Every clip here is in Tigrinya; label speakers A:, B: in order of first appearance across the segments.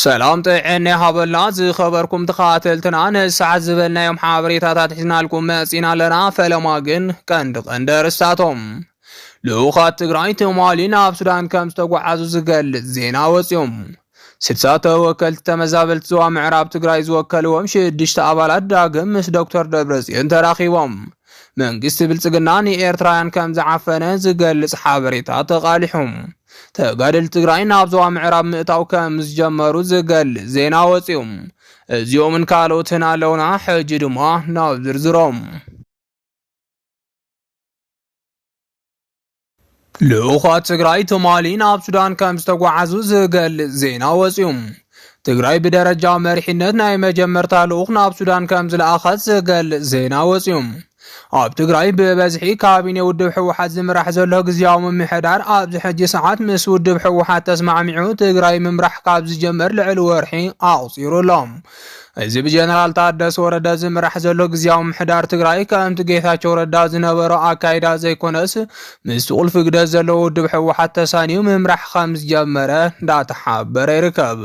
A: ሰላም ጥዕና ይሃበልና ዝኸበርኩም ተኻተልትና ንሰዓት ዝበልናዮም ሓበሬታታት ሒዝናልኩም መጺና ኣለና ፈለማ ግን ቀንዲ ቀንዲ ኣርስታቶም ልኡኻት ትግራይ ትማሊ ናብ ሱዳን ከም ዝተጓዓዙ ዝገልጽ ዜና ወጺኦም ስድሳ ተወከልቲ ተመዛበልቲ ዞባ ምዕራብ ትግራይ ዝወከልዎም ሽዱሽተ ኣባላት ዳግም ምስ ዶክተር ደብረጽዮን ተራኺቦም መንግስቲ ብልፅግና ንኤርትራውያን ከም ዝዓፈነ ዝገልፅ ሓበሬታ ተቓሊሑ። ተጋደልቲ ትግራይ ናብ ዞባ ምዕራብ ምእታው ከም ዝጀመሩ ዝገልፅ ዜና ወፂኡ። እዚኦምን ካልኦትን ኣለውና፣ ሕጂ ድማ ናብ ዝርዝሮም። ልኡኻት ትግራይ ትማሊ ናብ ሱዳን ከም ዝተጓዓዙ ዝገልጽ ዜና ወጺኡ። ትግራይ ብደረጃ መሪሕነት ናይ መጀመርታ ልኡኽ ናብ ሱዳን ከም ዝለኣኸት ዝገልጽ ዜና ወጺኡ። ኣብ ትግራይ ብበዝሒ ካቢኔ ውድብ ሕወሓት ዝምራሕ ዘሎ ግዝያዊ ምምሕዳር ኣብዚ ሕጂ ሰዓት ምስ ውድብ ሕወሓት ተስማዕሚዑ ትግራይ ምምራሕ ካብ ዝጀመር ልዕሊ ወርሒ ኣቑፂሩ ኣሎ። እዚ ብጀነራል ታደሰ ወረደ ዝምራሕ ዘሎ ግዜያዊ ምሕዳር ትግራይ ከምቲ ጌታቸው ረዳ ዝነበሮ ኣካይዳ ዘይኮነስ ምስ ቁልፊ ግደ ዘለዎ ውድብ ሕወሓት ተሳንዩ ምምራሕ ከም ዝጀመረ እንዳተሓበረ ይርከብ።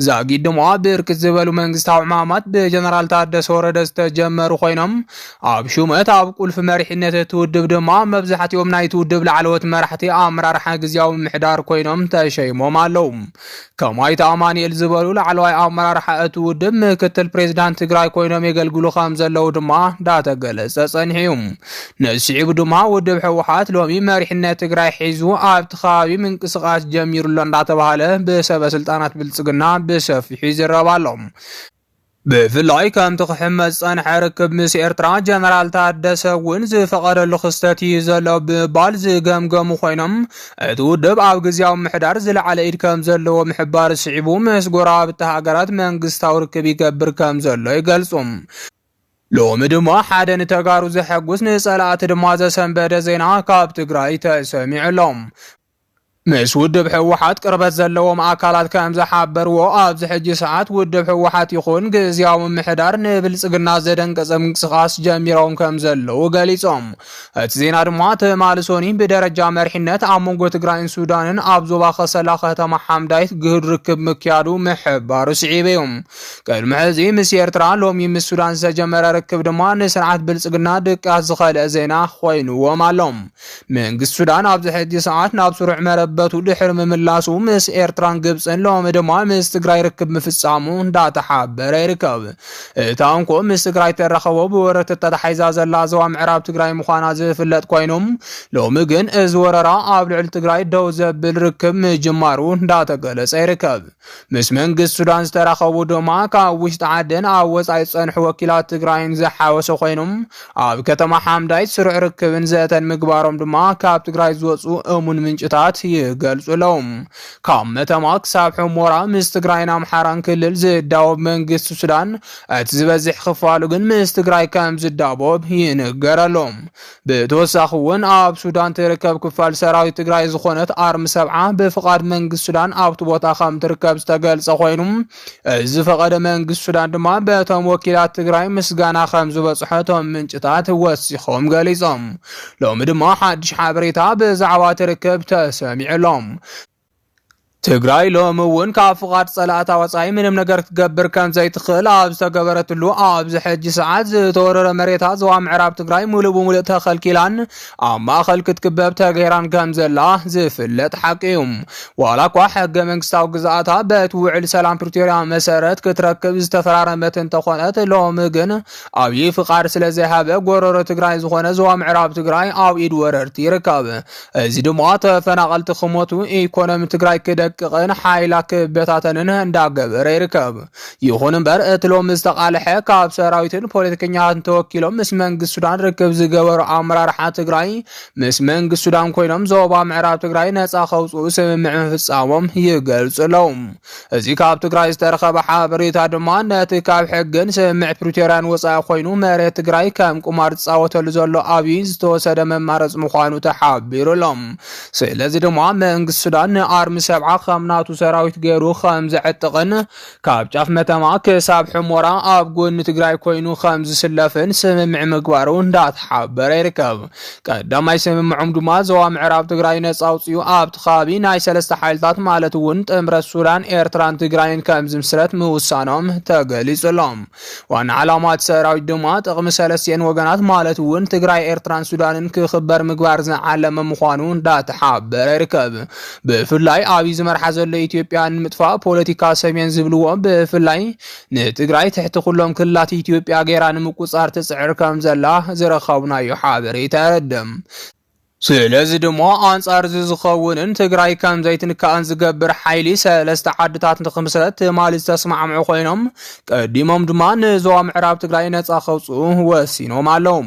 A: ዛጊድ ድማ ብርክት ዝበሉ መንግስታዊ ዕማማት ብጀነራል ታደሰ ወረደ ዝተጀመሩ ኮይኖም ኣብ ሹመት ኣብ ቁልፊ መሪሕነት እቲ ውድብ ድማ መብዛሕትኦም ናይቲ ውድብ ላዕለዎት መራሕቲ ኣመራርሓ ግዜያዊ ምሕዳር ኮይኖም ተሸይሞም ኣለዉ። ከም ኣይተ ኣማኒኤል ዝበሉ ላዕለዋይ ኣመራርሓ እቲ ውድብ ምክትል ፕሬዚዳንት ትግራይ ኮይኖም የገልግሉ ከም ዘለዉ ድማ እንዳተገለፀ ፀኒሑ እዩ። ነዚ ስዒቡ ድማ ውድብ ህወሓት ሎሚ መሪሕነት ትግራይ ሒዙ ኣብቲ ከባቢ ምንቅስቓስ ጀሚሩሎ እንዳተባሃለ ብሰበ ስልጣናት ብልፅግና ብሰፊሑ ይዝረብ ኣሎ። ብፍላይ ከምቲ ክሕመስ ዝጸንሐ ርክብ ምስ ኤርትራ ጀነራል ታደሰ እውን ዝፈቐደሉ ክስተት እዩ ዘሎ ብምባል ዝገምገሙ ኮይኖም እቲ ውድብ ኣብ ግዜያዊ ምሕዳር ዝለዓለ ኢድ ከም ዘለዎ ምሕባር ስዒቡ ምስ ጎረባብቲ ሃገራት መንግስታዊ ርክብ ይገብር ከም ዘሎ ይገልጹ። ሎሚ ድማ ሓደ ንተጋሩ ዘሐጉስ ንጸላእቲ ድማ ዘሰንበደ ዜና ካብ ትግራይ ተሰሚዑ ኣሎ። ምስ ውድብ ህወሓት ቅርበት ዘለዎም ኣካላት ከም ዝሓበርዎ ኣብዚ ሕጂ ሰዓት ውድብ ህወሓት ይኹን ግዝያዊ ምምሕዳር ንብልፅግና ዘደንቀፀ ምንቅስቓስ ጀሚሮም ከም ዘለዉ ገሊፆም። እቲ ዜና ድማ ትማሊ ሶኒ ብደረጃ መሪሕነት ኣብ መንጎ ትግራይን ሱዳንን ኣብ ዞባ ከሰላ ከተማ ሓምዳይት ግህድ ርክብ ምክያዱ ምሕባሩ ስዒቡ እዩ። ቅድሚ ሕዚ ምስ ኤርትራ ሎሚ ምስ ሱዳን ዝተጀመረ ርክብ ድማ ንስርዓት ብልፅግና ድቃስ ዝኸልአ ዜና ኮይኑዎም ኣሎም። መንግስቲ ሱዳን ኣብዚ ሕጂ ሰዓት ናብ ስሩዕ መረበቱ ድሕሪ ምምላሱ ምስ ኤርትራን ግብፅን ሎሚ ድማ ምስ ትግራይ ርክብ ምፍፃሙ እንዳተሓበረ ይርከብ። እታ እንኮ ምስ ትግራይ ተራኸቦ ብወረርቲ ተታሒዛ ዘላ ዞባ ምዕራብ ትግራይ ምዃና ዝፍለጥ ኮይኑ ሎሚ ግን እዚ ወረራ ኣብ ልዕሊ ትግራይ ደው ዘብል ርክብ ምጅማሩ እንዳተገለፀ ይርከብ። ምስ መንግስቲ ሱዳን ዝተራኸቡ ድማ ካብ ውሽጢ ዓድን ኣብ ወፃኢ ዝፀንሑ ወኪላት ትግራይን ዝሓወሰ ኮይኑ ኣብ ከተማ ሓምዳይት ስሩዕ ርክብን ዘተን ምግባሮም ድማ ካብ ትግራይ ዝወፁ እሙን ምንጭታት ይገልፁ ኣለው። ካብ መተማ ክሳብ ሑሞራ ምስ ትግራይን ኣምሓራን ክልል ዝዳወብ መንግስቲ ሱዳን እቲ ዝበዝሕ ክፋሉ ግን ምስ ትግራይ ከም ዝዳቦብ ይንገረሎም። ብተወሳኺ እውን ኣብ ሱዳን ትርከብ ክፋል ሰራዊት ትግራይ ዝኾነት ኣርሚ ሰብዓ ብፍቓድ መንግስቲ ሱዳን ኣብቲ ቦታ ከም ትርከብ ዝተገልጸ ኮይኑ እዚ ዝፈቐደ መንግስቲ ሱዳን ድማ በቶም ወኪላት ትግራይ ምስጋና ከም ዝበጽሖ እቶም ምንጭታት ወሲኾም ገሊጾም። ሎሚ ድማ ሓድሽ ሓበሬታ ብዛዕባ ትርክብ ተሰሚዑ ኣሎ። ትግራይ ሎሚ እውን ካብ ፍቓድ ጸላእታ ወጻኢ ምንም ነገር ክትገብር ከም ዘይትኽእል ኣብ ዝተገበረትሉ ኣብዚ ሕጂ ሰዓት ዝተወረረ መሬታ ዞባ ምዕራብ ትግራይ ሙሉእ ብምሉእ ተኸልኪላን ኣብ ማእኸል ክትክበብ ተገይራን ከም ዘላ ዝፍለጥ ሓቂ እዩ። ዋላ እኳ ሕገ መንግስታዊ ግዝኣታ በቲ ውዕል ሰላም ፕሪቶርያ መሰረት ክትረክብ ዝተፈራረመት እንተኾነት ሎሚ ግን ኣብዪ ፍቃድ ስለዘይሃበ ጎረሮ ትግራይ ዝኾነ ዞባ ምዕራብ ትግራይ ኣብ ኢድ ወረርቲ ይርከብ። እዚ ድማ ተፈናቐልቲ ክሞቱ፣ ኢኮኖሚ ትግራይ ክደቅቕን ሓይላ ክበታተንን እንዳገበረ ይርከብ። ይኹን እምበር እቲ ሎሚ ዝተቓልሐ ካብ ሰራዊትን ፖለቲከኛታትን ተወኪሎም ምስ መንግስቲ ሱዳን ርክብ ዝገበሩ ኣመራርሓ ትግራይ ምስ መንግስቲ ሱዳን ኮይኖም ዞባ ምዕራብ ትግራይ ነፃ ከውፅኡ ስምምዕ ምፍፃሞም ይገልፁ ኣለዉ። እዚ ካብ ትግራይ ዝተረኸበ ሓበሬታ ድማ ነቲ ካብ ሕግን ስምምዕ ፕሪቶርያን ወፃኢ ኮይኑ መሬት ትግራይ ከም ቁማር ዝፃወተሉ ዘሎ ኣብይ ዝተወሰደ መማረፂ ምዃኑ ተሓቢሩ ኣሎ። ስለዚ ድማ መንግስቲ ሱዳን ንኣርሚ ሰብዓ ከም ናቱ ሰራዊት ገይሩ ከም ዘዕጥቕን ካብ ጫፍ መተማ ክሳብ ሕሞራ ኣብ ጎኒ ትግራይ ኮይኑ ከም ዝስለፍን ስምምዕ ምግባሩ እንዳተሓበረ ይርከብ። ቀዳማይ ስምምዖም ድማ ዞባ ምዕራብ ትግራይ ነፃ ኣውፅኡ ኣብቲ ከባቢ ናይ ሰለስተ ሓይልታት ማለት እውን ጥምረት ሱዳን፣ ኤርትራን ትግራይን ከም ዝምስረት ምውሳኖም ተገሊጹ ኣሎ። ዋና ዓላማ እቲ ሰራዊት ድማ ጥቕሚ ሰለስቲኤን ወገናት ማለት እውን ትግራይ፣ ኤርትራን ሱዳንን ክኽበር ምግባር ዝዓለመ ምዃኑ እንዳተሓበረ ይርከብ። ብፍላይ ኣብይ ዝመርሓ ዘሎ ኢትዮጵያ ንምጥፋእ ፖለቲካ ሰሜን ዝብልዎ ብፍላይ ንትግራይ ትሕቲ ኩሎም ክልላት ኢትዮጵያ ገይራ ንምቁፃር ትፅዕር ከም ዘላ ዝረኸብናዮ ሓበሬታ የረድእ። ስለዚ ድማ ኣንፃር እዚ ዝኸውንን ትግራይ ከም ዘይትንካእን ዝገብር ሓይሊ ሰለስተ ዓድታት ንክምስረት ትማሊ ዝተስማዕምዑ ኮይኖም ቀዲሞም ድማ ንዞባ ምዕራብ ትግራይ ነፃ ከውፅኡ ወሲኖም ኣለዉ።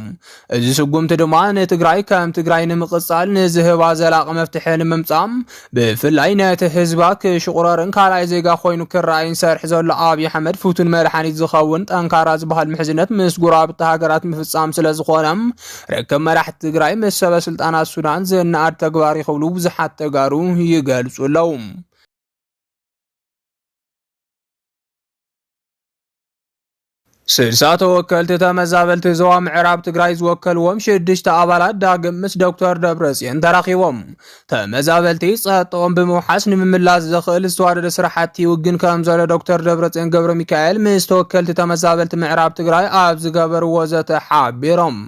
A: እዚ ስጉምቲ ድማ ንትግራይ ከም ትግራይ ንምቕጻል ንዝህባ ዘላቒ መፍትሒ ንምምጻእ ብፍላይ ነቲ ህዝባ ክሽቑረርን ካልኣይ ዜጋ ኮይኑ ክረኣይን ሰርሒ ዘሎ ኣብዪ ኣሕመድ ፍቱን መድሓኒት ዝኸውን ጠንካራ ዝበሃል ምሕዝነት ምስ ጉረባብቲ ሃገራት ምፍጻም ስለ ዝኾነ ርክብ መራሕቲ ትግራይ ምስ ሰበ ስልጣናት ሱዳን ዝነኣድ ተግባር እዩ ክብሉ ብዙሓት ተጋሩ ይገልጹ ኣለዉ። ስልሳ ተወከልቲ ተመዛበልቲ ዞባ ምዕራብ ትግራይ ዝወከልዎም ሽዱሽተ ኣባላት ዳግም ምስ ዶክተር ደብረጽዮን ተራኺቦም ተመዛበልቲ ጸጥኦም ብምውሓስ ንምምላስ ዘኽእል ዝተዋደደ ስራሕቲ ይውግን ከም ዘሎ ዶክተር ደብረጽዮን ገብረ ሚካኤል ምስ ተወከልቲ ተመዛበልቲ ምዕራብ ትግራይ ኣብ ዝገበርዎ ዘተ ሓቢሮም።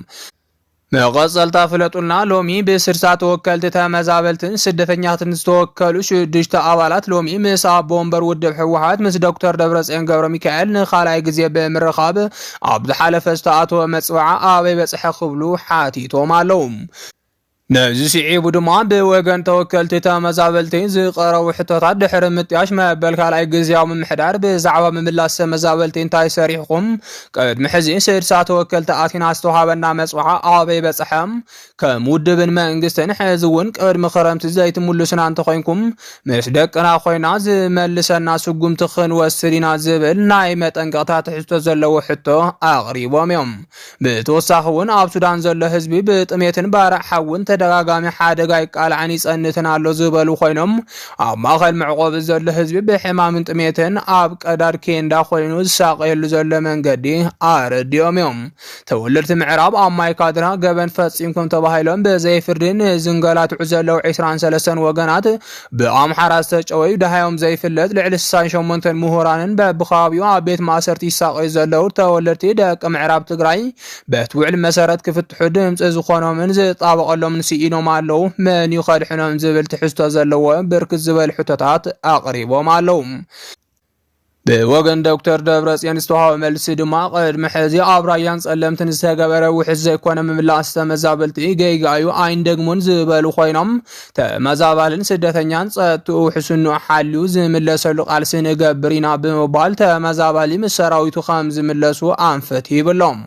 A: መቐጸልታ ፍለጡልና ሎሚ ብስድሳ ተወከልቲ ተመዛበልትን ስደተኛትን ዝተወከሉ ሽዱሽተ ኣባላት ሎሚ ምስ ኣቦ ወንበር ውድብ ህወሓት ምስ ዶክተር ደብረጽዮን ገብረ ሚካኤል ንኻልኣይ ግዜ ብምርኻብ ኣብ ዝሓለፈ ዝተኣተወ መጽበዓ ኣበይ በጽሐ ክብሉ ሓቲቶም ኣለዉ። ነዚ ስዒቡ ድማ ብወገን ተወከልቲ ተመዛበልቲ ዝቐረቡ ሕቶታት ድሕሪ ምጥያሽ መበል ካልኣይ ግዜያዊ ምምሕዳር ብዛዕባ ምምላስ ተመዛበልቲ እንታይ ሰሪሕኹም ቅድሚ ሕዚ ስድሳ ተወከልቲ ኣቲና ዝተውሃበና መፅውዓ ኣበይ በፅሐ? ከም ውድብን መንግስትን ሕዚ እውን ቅድሚ ክረምቲ ዘይትምሉሱና እንተኾይንኩም ምስ ደቅና ኮይና ዝመልሰና ስጉምቲ ክንወስድ ኢና ዝብል ናይ መጠንቀቕታ ትሕዝቶ ዘለዎ ሕቶ ኣቕሪቦም እዮም። ብተወሳኺ እውን ኣብ ሱዳን ዘሎ ህዝቢ ብጥሜትን ባርዕ ሓውን ተደጋጋሚ ሓደጋ ይቃላዕን ይፀንትን ኣሎ ዝበሉ ኮይኖም ኣብ ማእኸል መዕቆቢ ዘሎ ህዝቢ ብሕማምን ጥሜትን ኣብ ቀዳድ ኬንዳ ኮይኑ ዝሳቐየሉ ዘሎ መንገዲ ኣረዲኦም እዮም። ተወለድቲ ምዕራብ ኣብ ማይካድራ ገበን ፈፂምኩም ተባሂሎም ብዘይፍርዲ ንዝንገላትዑ ዘለዉ 23 ወገናት ብኣምሓራ ዝተጨወዩ ደሃዮም ዘይፍለጥ ልዕሊ 68 ምሁራንን በብኸባቢኡ ኣብ ቤት ማእሰርቲ ይሳቐዩ ዘለዉ ተወለድቲ ደቂ ምዕራብ ትግራይ በቲ ውዕል መሰረት ክፍትሑ ድምፂ ዝኾኖምን ዝጣበቐሎምን ስኢኖም ኣለዉ፣ መን እዩ ከድሕኖም ዝብል ትሕዝቶ ዘለዎ ብርክት ዝበሉ ሕቶታት ኣቕሪቦም ኣለዉ። ብወገን ዶክተር ደብረፅዮን ዝተዋሃበ መልሲ ድማ ቅድሚ ሕዚ ኣብ ራያን ጸለምትን ዝተገበረ ውሕስ ዘይኮነ ምምላስ ተመዛበልቲ ገይጋ እዩ ኣይንደግሙን ዝበሉ ኮይኖም ተመዛባልን ስደተኛን ጸጥትኡ ውሕስንኡ ሓልዩ ዝምለሰሉ ቃልሲ ንገብር ኢና ብምባል ተመዛባሊ ምስ ሰራዊቱ ከም ዝምለሱ ኣንፈት ሂብሎም።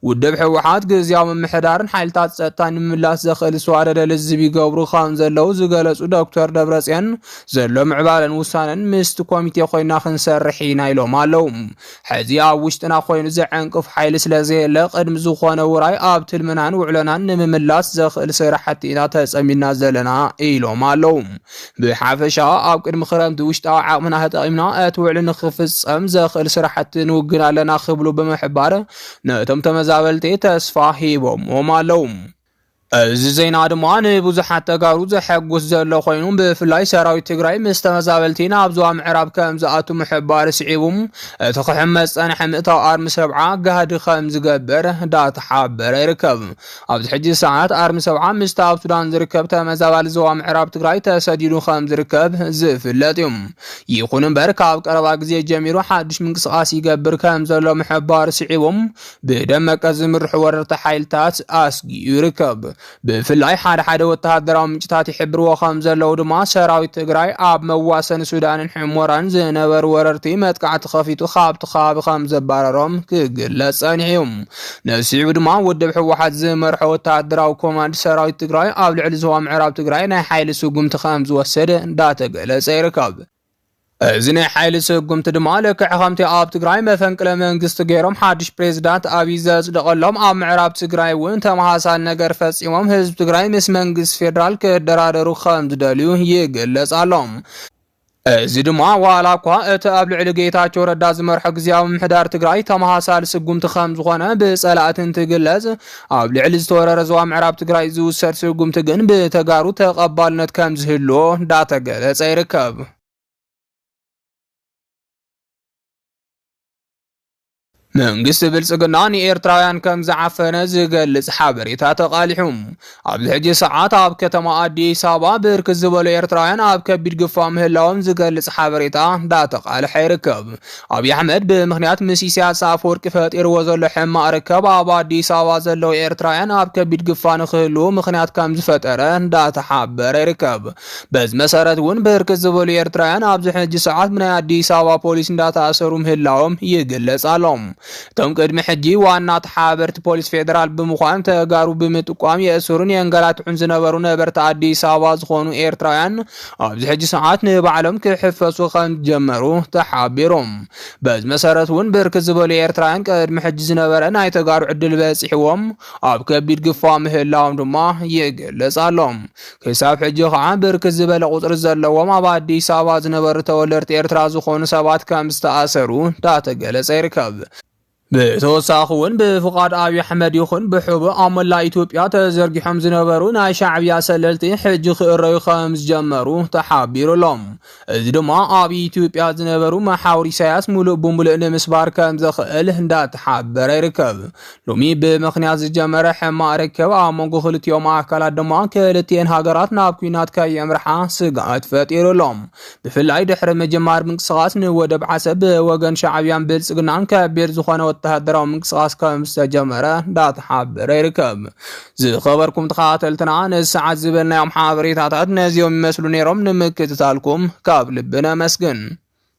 A: ውድብ ህወሓት ግዝያዊ ምምሕዳርን ሓይልታት ጸጥታን ንምምላስ ዘኽእል ዝተዋደደ ልዝብ ይገብሩ ከም ዘለው ዝገለጹ ዶክተር ደብረጽዮን ዘሎ ምዕባለን ውሳነን ምስቲ ኮሚቴ ኮይና ክንሰርሕ ኢና ኢሎም ኣለው። ሕዚ ኣብ ውሽጥና ኮይኑ ዘዐንቅፍ ሓይሊ ስለ ዘየለ ቅድሚ ዝኾነ ውራይ ኣብ ትልምናን ውዕሎናን ንምምላስ ዘኽእል ስራሕቲ ኢና ተፀሚድና ዘለና ኢሎም ኣለው። ብሓፈሻ ኣብ ቅድሚ ክረምቲ ውሽጣዊ ዓቕምና ተጠቒምና እቲ ውዕሊ ንክፍፀም ዘኽእል ስራሕቲ ንውግን ኣለና ክብሉ ብምሕባር ነቶም ተመዛበልቲ ተስፋ ሂቦሞም ኣለው። እዚ ዜና ድማ ንብዙሓት ተጋሩ ዘሐጉስ ዘሎ ኮይኑ ብፍላይ ሰራዊት ትግራይ ምስ ተመዛበልቲ ናብ ዞባ ምዕራብ ከም ዝኣቱ ምሕባር ስዒቡ እቲ ክሕመስ ጸንሐ ምእታው ኣርሚ ሰብዓ ጋህዲ ከም ዝገበር ዳተሓበረ ይርከብ። ኣብዚ ሕጂ ሰዓት ኣርሚ ሰብዓ ምስቲ ኣብ ሱዳን ዝርከብ ተመዛባሊ ዞባ ምዕራብ ትግራይ ተሰዲዱ ከም ዝርከብ ዝፍለጥ እዩ። ይኹን እምበር ካብ ቀረባ ግዜ ጀሚሩ ሓድሽ ምንቅስቓስ ይገብር ከም ዘሎ ምሕባር ስዒቡ ብደመቀ ዝምርሑ ወረርቲ ሓይልታት ኣስጊኡ ይርከብ። ብፍላይ ሓደ ሓደ ወተሃደራዊ ምንጭታት ይሕብርዎ ከም ዘለዉ ድማ ሰራዊት ትግራይ ኣብ መዋሰኒ ሱዳንን ሕሞራን ዝነበሩ ወረርቲ መጥቃዕቲ ከፊቱ ካብቲ ከባቢ ከም ዘባረሮም ክግለጽ ጸኒሑ እዩ። ነሲዑ ድማ ውድብ ህወሓት ዝመርሖ ወተሃደራዊ ኮማንድ ሰራዊት ትግራይ ኣብ ልዕሊ ዞባ ምዕራብ ትግራይ ናይ ሓይሊ ስጉምቲ ከም ዝወስድ እንዳተገለጸ ይርከብ። እዚ ናይ ሓይሊ ስጉምቲ ድማ ልክዕ ከምቲ ኣብ ትግራይ መፈንቅለ መንግስቲ ገይሮም ሓድሽ ፕሬዚዳንት ኣብይ ዘጽደቐሎም ኣብ ምዕራብ ትግራይ እውን ተመሳሳሊ ነገር ፈጺሞም ህዝቢ ትግራይ ምስ መንግስቲ ፌዴራል ክደራደሩ ከም ዝደልዩ ይግለጽ ኣሎ። እዚ ድማ ዋላ እኳ እቲ ኣብ ልዕሊ ጌታቸው ረዳ ዝመርሖ ግዜያዊ ምሕዳር ትግራይ ተመሳሳሊ ስጉምቲ ከም ዝኾነ ብጸላእቲ እንትግለጽ ኣብ ልዕሊ ዝተወረረ ዞባ ምዕራብ ትግራይ ዝውሰድ ስጉምቲ ግን ብተጋሩ ተቐባልነት ከም ዝህልዎ እንዳተገለጸ ይርከብ። መንግስቲ ብልጽግና ንኤርትራውያን ከም ዝዓፈነ ዝገልጽ ሓበሬታ ተቓሊሑ ኣብዚ ሕጂ ሰዓት ኣብ ከተማ ኣዲስ ኣበባ ብርክት ዝበሉ ኤርትራውያን ኣብ ከቢድ ግፋ ምህላዎም ዝገልጽ ሓበሬታ እንዳተቓልሐ ይርከብ። ኣብይ ኣሕመድ ብምኽንያት ምስ ኢሳያስ ኣፈወርቂ ፈጢርዎ ዘሎ ሕማቕ ርከብ ኣብ ኣዲስ ኣበባ ዘለዉ ኤርትራውያን ኣብ ከቢድ ግፋ ንክህልዉ ምኽንያት ከም ዝፈጠረ እንዳተሓበረ ይርከብ። በዚ መሰረት እውን ብርክት ዝበሉ ኤርትራውያን ኣብዚ ሕጂ ሰዓት ብናይ ኣዲስ ኣበባ ፖሊስ እንዳተኣሰሩ ምህላዎም ይግለጽ ኣሎ። እቶም ቅድሚ ሕጂ ዋና ተሓባበርቲ ፖሊስ ፌደራል ብምዃን ተጋሩ ብምጥቋም የእስሩን የንገላትዑን ዝነበሩ ነበርቲ ኣዲስ ኣበባ ዝኾኑ ኤርትራውያን ኣብዚ ሕጂ ሰዓት ንባዕሎም ክሕፈሱ ከምዝጀመሩ ተሓቢሩ። በዚ መሰረት እውን ብርክት ዝበሉ ኤርትራውያን ቅድሚ ሕጂ ዝነበረ ናይ ተጋሩ ዕድል በጺሕዎም ኣብ ከቢድ ግፋ ምህላዎም ድማ ይግለጽ ኣሎ። ክሳብ ሕጂ ከዓ ብርክት ዝበለ ቁጽሪ ዘለዎም ኣብ ኣዲስ ኣበባ ዝነበሩ ተወለድቲ ኤርትራ ዝኾኑ ሰባት ከምዝተኣሰሩ እንዳተገለጸ ይርከብ። ብተወሳኺ እውን ብፍቓድ ኣብዪ ኣሕመድ ይኹን ብሕቡእ ኣብ መላእ ኢትዮጵያ ተዘርጊሖም ዝነበሩ ናይ ሻዕብያ ሰለልቲ ሕጂ ክእረዩ ከም ዝጀመሩ ተሓቢሩ ኣሎ። እዚ ድማ ኣብ ኢትዮጵያ ዝነበሩ መሓውር ኢሳያስ ሙሉእ ብምሉእ ንምስባር ከም ዘኽእል እንዳተሓበረ ይርከብ። ሎሚ ብምኽንያት ዝጀመረ ሕማቕ ርክብ ኣብ መንጎ ክልቲኦም ኣካላት ድማ ክልቲኤን ሃገራት ናብ ኩናት ከየምርሓ ስግኣት ፈጢሩ ኣሎ። ብፍላይ ድሕሪ ምጅማር ምንቅስቓስ ንወደብ ዓሰብ ብወገን ሻዕብያን ብልፅግናን ከቢድ ዝኾነ ወተሃደራዊ ምንቅስቓስ ከም ዝተጀመረ እንዳተሓበረ ይርከብ። ዝኸበርኩም ተኸታተልትና ንሰዓት ዝበልናዮም ሓበሬታታት ነዚኦም ይመስሉ ነይሮም። ንምክትታልኩም ካብ ልቢ ነመስግን።